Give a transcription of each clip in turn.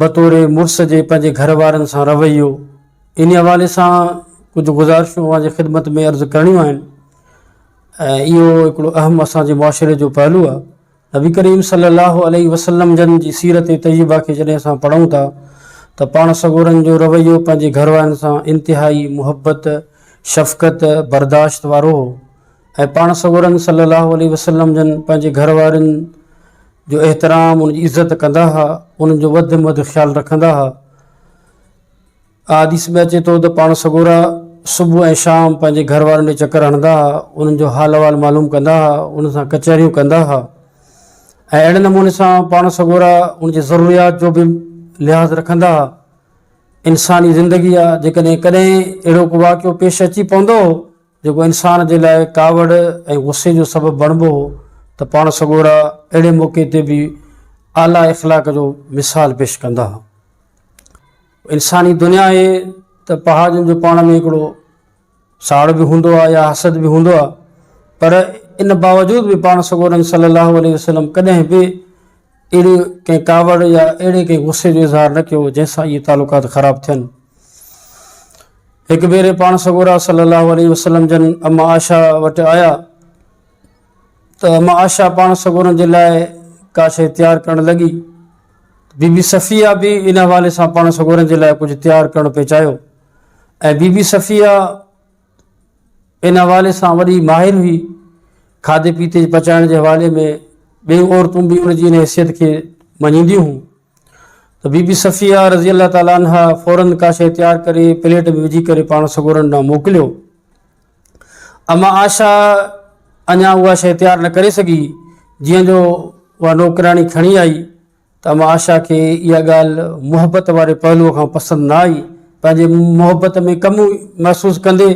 بطور مڙس جي پنهنجي گهر وارن سان رويو انهي حوالي سان ڪجهه گذارشون اوهان جي خدمت ۾ عرض ڪرڻيون آهن ۽ اهو هڪڙو اهم اسان جي معاشري جو پهلو آهي نبي ڪريم صلي الله عليه وسلم جن جي سيرت طيبه کي جڏهن اسان پڙهون ٿا ته پاڻ سڳورن جو رويو پنهنجي گهر وارن سان انتهائي محبت شفقت برداشت وارو هو ۽ پاڻ سڳورن صلّي اللّٰه عليه وسلّم جن پنهنجي گهر وارين جو احترام ان جي عزت ڪندا ها انهن جو وڌ ۾ وڌ خيال رکندا ها آء حديث ۾ اچي ٿو ته پاڻ سڳورا صبح ۽ شام پنهنجي گهر وارن ڏي چڪر هڻندا ها انهن جو حال احوال معلوم ڪندا ها انهن سان ڪچهريون ڪندا ها ۽ اهڙي نموني سان پاڻ سڳورا ان جي ضروريات جو به لحاظ رکندا ها انساني زندگي آ جيڪڏهن ڪڏهن اهڙو ڪو واقعو پيش اچي پوندو جيڪو انسان جي لاء ڪاوڙ ۽ غصي جو سبب بڻبو هو ته پاڻ سڳورا اهڙي موقعي تي به اعليٰ اخلاق جو مثال پيش ڪندا هئا. انساني دنيا آهي ته پهاجن جو پاڻ ۾ هڪڙو ساڙ به هوندو آهي يا حسد به هوندو آهي پر ان باوجود به پاڻ سڳورن صلي الله عليه وسلم ڪڏهن به اهڙي ڪنهن ڪاوڙ يا اهڙي ڪنهن غصي جو اظهار نه ڪيو جنهن سان اهي تعلقات خراب ٿين. هڪ ڀيري پاڻ سڳورا صلي الله عليه وسلم جن اما عائشه وٽ آيا ته اما عائشه پاڻ سڳورن جي لاء ڪا شيء تيار ڪرڻ لڳي. بي بي صفيه به ان حوالي سان پاڻ سڳورن جي لاء ڪجهه تيار ڪرڻ پئي چاهيو ۽ بي بي صفيه ان حوالي سان وڏي ماهر هئي. کاڌي پيتي جي پچائڻ جي حوالي ۾ ٻيون عورتون به ان جي ان حيثيت کي مڃينديون هيون ته بي بي صفيه رضي الله تعالٰي عنها فوراً ڪا شيء تيار ڪري پليٽ ۾ وجهي ڪري پاڻ سڳورن ڏانهن موڪليو. اما عائشه اڃا اها شيء تيار نه ڪري سگهي جيئن جو اها نوڪراڻي کڻي آئي. ته اما آشا کي اها ڳالهه محبت واري پهلوء کان پسند نه آئي. پنهنجي محبت ۾ ڪمي محسوس ڪندي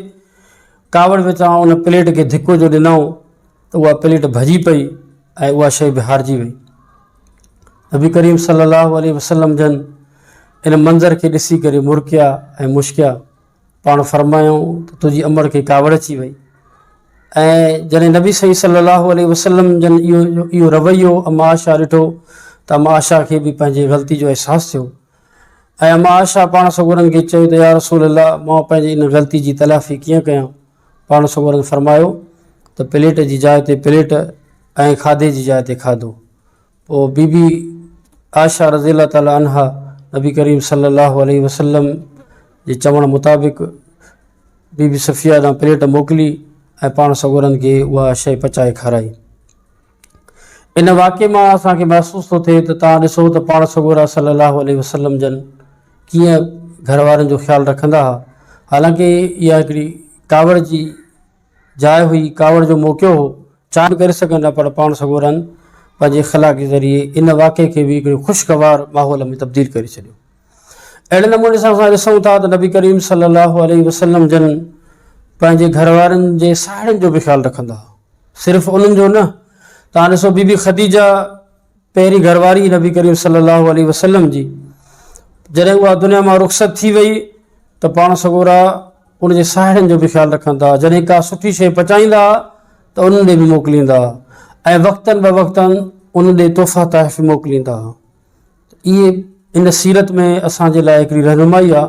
ڪاوڙ وچان ان پليٽ کي ڌڪو جو ڏنائون ته اها پليٽ ڀڄي پئي ۽ اها شيء به هارجي وئي. نبي ڪريم صلي الله عليه وسلم جن ان منظر کي ڏسي ڪري مرڪيا ۽ مشڪيا. پاڻ فرمايائون ته تنهنجي امڙ کي ڪاوڙ اچي وئي ۽ جڏهن نبي سائين صلي الله عليه وسلم جن اهو اهو رويو اما عائشه ڏٺو ته اما عائشه کي به پنهنجي غلطي جو احساس ٿيو ۽ اما عائشه پاڻ سڳورن کي چيو ته يا رسول الله مان پنهنجي ان غلطي جي تلافي ڪيئن ڪيان پاڻ سڳورن فرمايو ته پليٽ جي جاء تي پليٽ ۽ کاڌي جي جاء تي کاڌو پوء بي بي عائشه رضي الله تعالٰي عنها نبي ڪريم صلي الله عليه وسلم جي چوڻ مطابق بي بي صفيه ڏانهن پليٽ موڪلي ۽ پاڻ سڳورن کي اها شيء پچائي کارائي. ان واقعي مان اسان کي محسوس ٿو ٿئي ته توهان ڏسو ته پاڻ سڳورا صلي الله عليه وسلم جن ڪيئن گهر وارن جو خيال رکندا ها حالانڪه اها هڪڙي ڪاوڙ جي جاء هئي، ڪاوڙ جو موقعو هو، چاهي به ڪري سگهن ها پر پاڻ سڳورن پنهنجي اخلاق ذريعي ان واقعي کي به هڪڙي خوشگوار ماحول ۾ تبديل ڪري ڇڏيو. اهڙي نموني سان اسان ڏسون ٿا ته نبي ڪريم صلي الله عليه وسلم جن پنهنجي گهر وارن جي ساهيڙين جو به خيال رکندا هئا، صرف انهن جو نه، توهان ڏسو بي بي خديجه، پهرين گهر واري نبي ڪريم صلي الله عليه وسلم جي جڏهن اها دنيا مان رخصت ٿي وئي ته پاڻ سڳورا ان جي ساهيڙين جو به خيال رکن ٿا جڏهن ڪا سٺي شيء پچائيندا ته انهن ڏي به موڪليندا ۽ وقتن به وقتن ان ڏي تحفا تحف موڪليندا اهي ان سيرت ۾ اسان جي لاء هڪڙي رهنمائي آ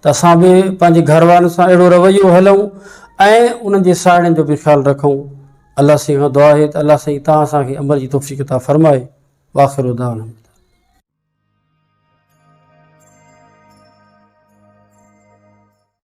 ته اسان به پنهنجي گهر وارن سان اهڙو رويو هلون ۽ انهن جي ساهيڙين جو به خيال رکون الله سائين کان دعا آهي ته الله سائين تان اسان کي عمل جي توفيق عطا فرمائي واخر دعوانا